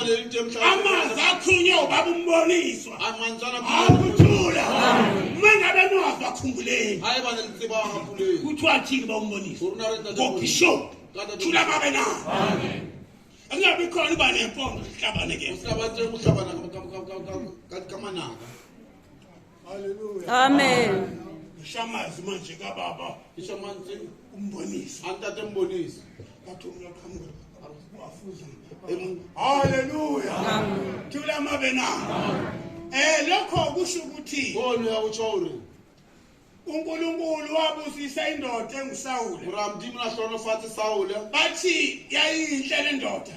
amanzi akhunye ubaba umboniswa akuthula uma ngabe niwazi bakhumbuleni kuthiwa thini ba umbonisa ngobhishop thula babe na angabi khona uba nempondo sihlabane ke amen ngishamazwi manje kababa ishamanzi umbonise antate mbonise bathi umlaqhamuka wafuza haleluya thula mabe na eh lokho kusho ukuthi ngone yakuchore uNkulunkulu wabusisa indoda engusawule uramdimu nahlolo fathi sawule bathi yayinhle lendoda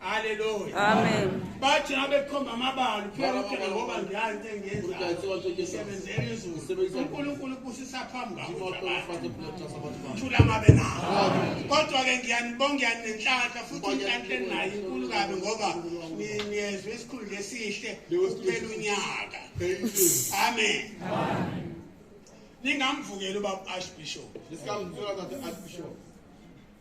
Hallelujah. Amen. Bathi ngabe kukhomba amabala uphela uphela ngoba ngiyani engiyenza. Ngisebenzela izulu. uNkulunkulu ubusisa phambi kwakho. Thula mabe nawo. Kodwa ke ngiyanibonga ngiyani nenhlanhla futhi inhlanhla enayo inkulu kabi ngoba niyezwe isikhulu lesihle uphela unyaka. Amen. Amen. Ningamvukela ubaba Archbishop. Nisamvukela ubaba Archbishop.